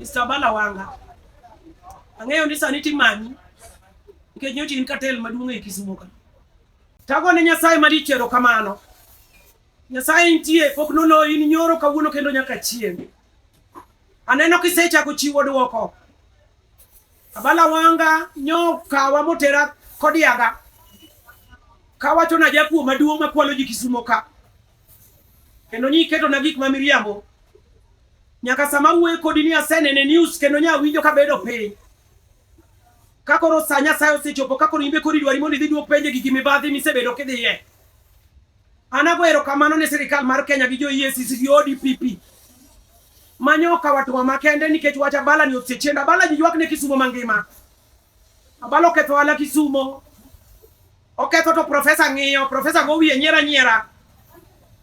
Mr. Bala Wanga, ang'eyo ni sani timanyi nikech nyocha in katel maduong' e Kisumo ka. Tago ne Nyasaye malich erokamano. Nyasaye nitie pok noloyi ni nyoro kawuono kendo nyaka chieng'. Aneno kisechako chiwo dwoko. Abala Wanga nyo kawa motera kodiaga kawachona jakuo maduong' makwalo ji Kisumo ka. kendo nyi keto na gik ma miriambo nyaka sama wuoye kodi ni asenene news kendo nya winjo ka bedo piny ka koro sa Nyasaye osechopo ka koro imbe kori dwari mondo idhi duok penje gigi mibadhi misebedo kidhiye an ago erokamano ne sirikal mar Kenya gi jo EACC gi ODPP manyo ka watwa makende nikech wacha bala ni osechienda bala ji ywak ne Kisumo mangima Abalo oketho ala Kisumo, oketho to profesa ng'iyo, profesa go wiye nyiera nyiera.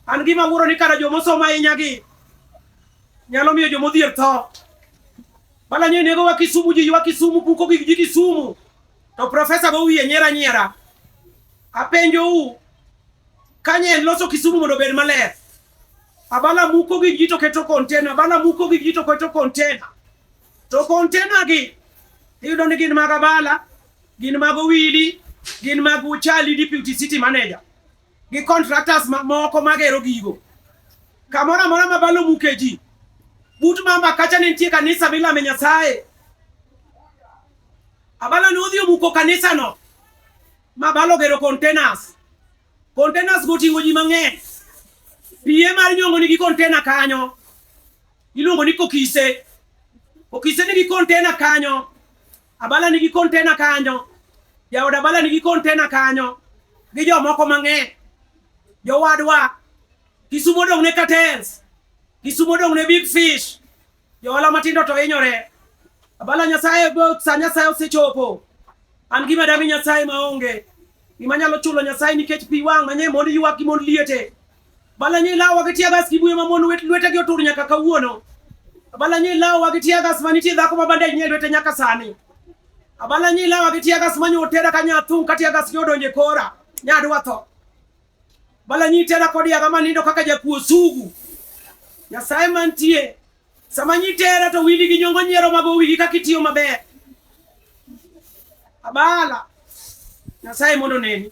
An gima wuoro ni kara jomosomo ahinya gi nyalo miyo jomodhier tho. Bala nyo nego wa Kisumu ji wa Kisumu puko gi ji Kisumu. To profesa go wiye nyiera nyiera. Apenjo u kanye loso Kisumu mondo obed maler. Abala muko gi ji to keto container, abala muko gi ji to keto container. To kontenagi iyudo ni gin mag abala, gin mag owili, gin mag uchali deputy city manager gi contractors moko magero gigo. Kamoro amora ma balo muke ji, but mamba kacha ne nitie kanisa milame Nyasaye. Abala ne odhi omuko kanisano ma balo gero containers. Containers goting'o ji mang'eny. Pie mar nyong'o nigi container kanyo. Iluongo ni kokise. Kokise nigi kontena kanyo. Abala nigi kontena kanyo. Jaod Abala nigi kontena kanyo. Gi jomoko mang'eny. Jowadwa. Kisumo dong' ne cartels. Kisumo dong' ne big fish. Johala matindo to hinyore. Abala Nyasaye sa Nyasaye osechopo. An gima dami Nyasaye maonge. Gima nyalo chulo Nyasaye nikech pi wang' manye mond ywak gi mond liete. Balanyo ilawowa gi tear gas gi buye mamon lwetegi otur nyaka kawuono. Abalanyo ilawowa gi tear gas ma nitie dhako ma bandej nie lwete nyaka sani. Abalanyo ilawowa gi tear gas manyo otera ka nyathung' ka tear gas nyodonje kora nyadwa tho. Balanyo itera kod yaga manindo kaka jakuo sugu. Nyasaye mantie sama nyitera to wili gi nyongo nyiero mago wigi kaka itiyo maber. Abala Nyasaye mondo neni.